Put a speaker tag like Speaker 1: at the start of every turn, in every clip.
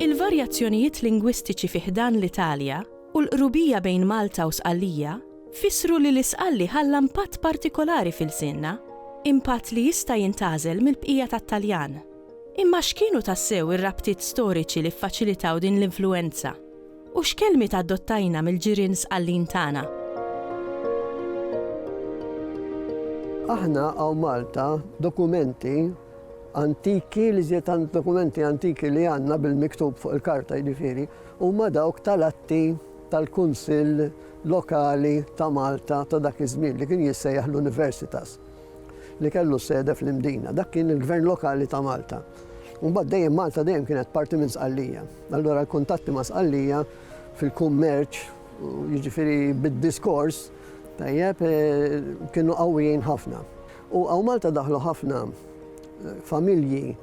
Speaker 1: Il-varjazzjonijiet lingwistiċi fi ħdan l-Italja u l-qrubija bejn Malta u Sqallija fissru li l-Isqalli ħalla impatt partikolari f'ilsienna, impatt li jista' jintgħażel mill-bqija tat-Taljan. Imma x'kienu tassew ir-rabtiet storiċi li ffaċilitaw din l-influwenza, u x'kelmiet adottajna mill-ġirien sqallin tagħna?
Speaker 2: Aħna hawn Malta dokumenti antiki li żied dokumenti antiki li għandna bil-miktub fuq il-karta jiġifieri huma dawk tal-atti tal-Kunsill Lokali ta' Malta ta' dak iż-żmien li kien jissejjaħ l-Universitas. li kellu s-sede fl-Imdina. Dak kien il-Gvern Lokali ta' Malta. U mbagħad dejjem Malta dejjem kienet parti minn Sqallija. Allura l-kuntatti ma' Sqallija fil-kummerċ, jiġifieri bid-diskors, tajjeb, kienu qawwijin ħafna. U hawn Malta daħlu ħafna familji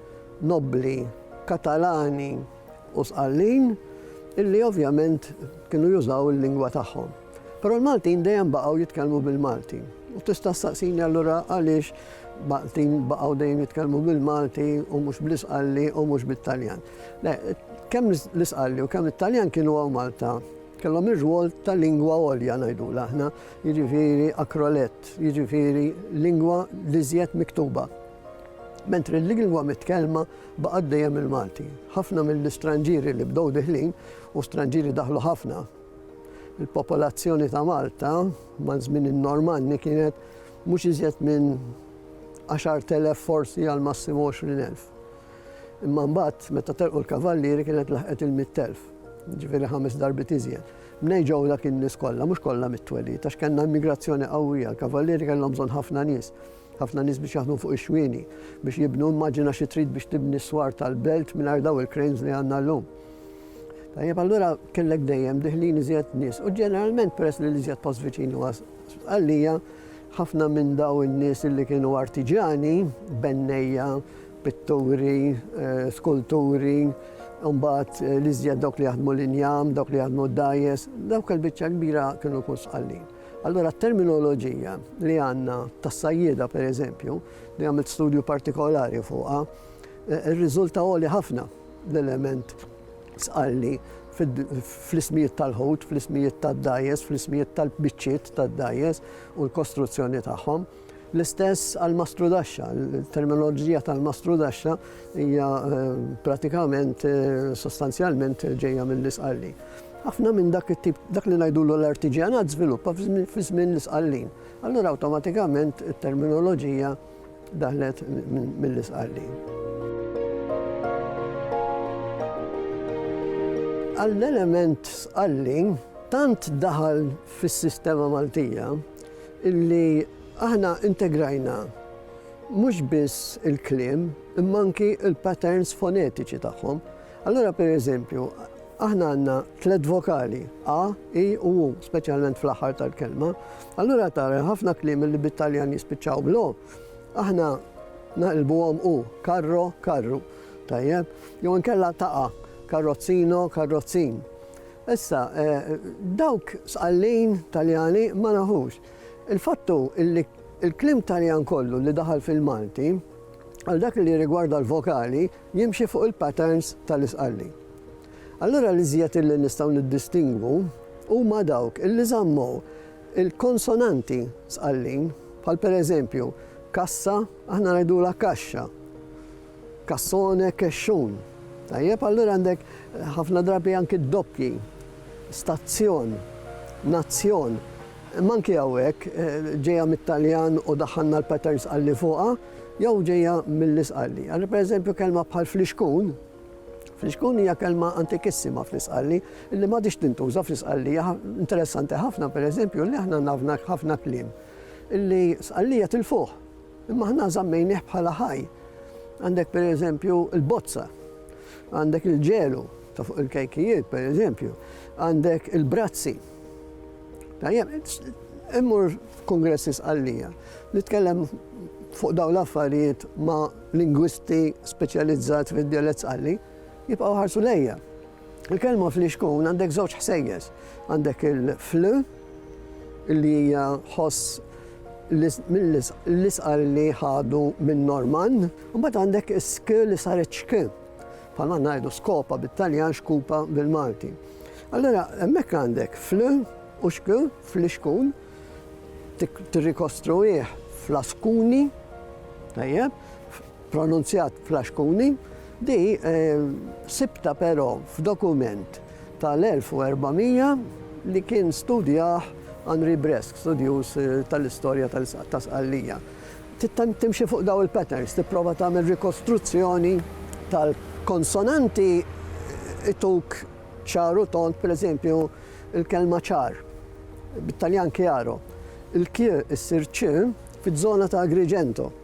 Speaker 2: nobbli Katalani u Sqallin illi ovvjament kienu jużaw il-lingwa tagħhom. Però l-Maltin dejjem baqgħu jitkellmu bil-Malti. U tista' ssaqsini allura għaliex Maltin baqgħu dejjem jitkellmu bil-Malti u mhux bl-Isqalli u mhux bit-Taljan. Le, kemm l-Isqalli u kemm it-Taljan kienu hawn Malta kellhom ir-rwol ta' lingwa għolja ngħidu aħna, jiġifieri akrolett, jiġifieri lingwa li żjed miktuba. Mentri l-lingwa mitkellma baqgħet dejjem il-Malti. Ħafna mill-istranġieri li bdew diħlin u stranġieri daħlu ħafna Il-popolazzjoni ta' Malta maż-żmien in-Normanni kienet mhux iżjed minn 10,000 forsi għal massimu 20,000. Imma mbagħad meta telqu l-kavallieri kienet laħqet il-100,000, jiġifieri ħames darbiet iżjed. Mnejn ġew dak in-nies kollha? Mhux kollha mit-twelid, għax kellna immigrazzjoni qawwija, l-kavallieri kellhom bżonn ħafna nies. Ħafna nies biex jaħdmu fuq ix-xwieni biex jibnu immaġina xi trid biex tibni s-swar tal-belt mingħajr daw il-cranes li għandna llum. Tajjeb allura kellek dejjem diħlin iżjed nies u ġeneralment peress li l-iżjed post viċin huwa għalija ħafna minn daw in-nies li kienu artiġani, bennejja, pitturi, eh, skulturi, mbagħad eh, li żjed dawk li jaħdmu l-injam, dawk li jaħdmu d-dajes, dawk il-biċċa kbira kienu kun sqallin. Allura t-terminoloġija li għandna tas-sajjieda pereżempju, li għamilt studju partikolari fuqha, eh, irriżulta għoli ħafna l-element sqalli fl-ismijiet tal-ħut, fl-ismijiet tad-dajes, fl-ismijiet tal-biċċiet tad-dajes u l-kostruzzjoni tagħhom. L-istess għall-mastrudaxxa, il-terminoloġija tal-mastrudaxxa hija pratikament sostanzjalment ġejja mill-Isqallin. Ħafna minn dak it-tip dak li ngħidulu l-artiġjanat żviluppa fi żmien l-Isqallin. Allura awtomatikament it-terminoloġija daħlet mill-Isqallin. Għall-element Sqallin tant daħal fis-sistema Maltija Illi aħna integrajna mhux biss il-kliem imma anki l-patterns fonetiċi tagħhom. Allura pereżempju, aħna għandna tliet vokali, a, i u u, speċjalment fl-aħħar tal-kelma. Allura tara ħafna kliem li bit-Taljan jispiċċaw bl aħna naqilbuhom u, karro, karru. Tajjeb? Jew inkella taqa, karrozzino, karrozzin. Issa, dawk sqallin Taljani ma nafux. Il-fatt hu li l-kliem Taljan kollu li daħal fil-Malti, għal dak li jirrigwarda l-vokali, jimxi fuq il-patterns tal-Isqalli. Allura l-iżjed li nistgħu niddistingwu huma dawk li żammu l-konsonanti Sqallin, bħal pereżempju, kassa, aħna ngħidulha kaxxa. Cassone, Kexxun. Tajjeb, allura għandek ħafna drabi anki d-doppji, stazzjon, nazzjon. Imma anki hawnhekk ġejja mit-Taljan u daħħalna l-patterns għal li fuqha jew ġejja mill-Isqalli. Allura pereżempju kelma bħal flixkun, flixkun hija kelma antikissima fl-Isqalli li m'għadhiex tintuża fl-Isqalli. Interessanti ħafna pereżempju li aħna nafna ħafna kliem li Sqallija tilfuh. Imma aħna żammejnieh bħala ħaj. Għandek pereżempju l-bozza, għandek il-ġelu ta' fuq il-kejkijiet pereżempju, għandek il-brazzi. Tajjeb, immur f'kongressi sqallija, nitkellem fuq dawn l-affarijiet ma' lingwisti speċjalizzat fid-dialett sqalli, jibqgħu ħarsu lejja. Il-kelma flixkun għandek żewġ ħsejjes. Għandek il-fl li hija ħoss l-isqar li ħadu minn Norman, u mbagħad għandek sk li saret xk. Palma ngħidu skopa bit-Taljan xkupa bil-Malti. Allora, hemmhekk għandek fl u xk fl-ixkun tirrikostruih fl-askuni, tajjeb, pronunzjat Flaxkuni, di sibtha però f'dokument tal-1400 li kien studjah Henri Bresque, studjuż tal-istorja ta' Sqallija. Tittemm timxi fuq dawn il-patterns, tipprova tagħmel rikostruzzjoni tal-konsonanti ituk ċar u tond, pereżempju, il-kelma ċar, bit-Taljan chiaro, il-q issir ċ fiż-żona ta' Agrigento.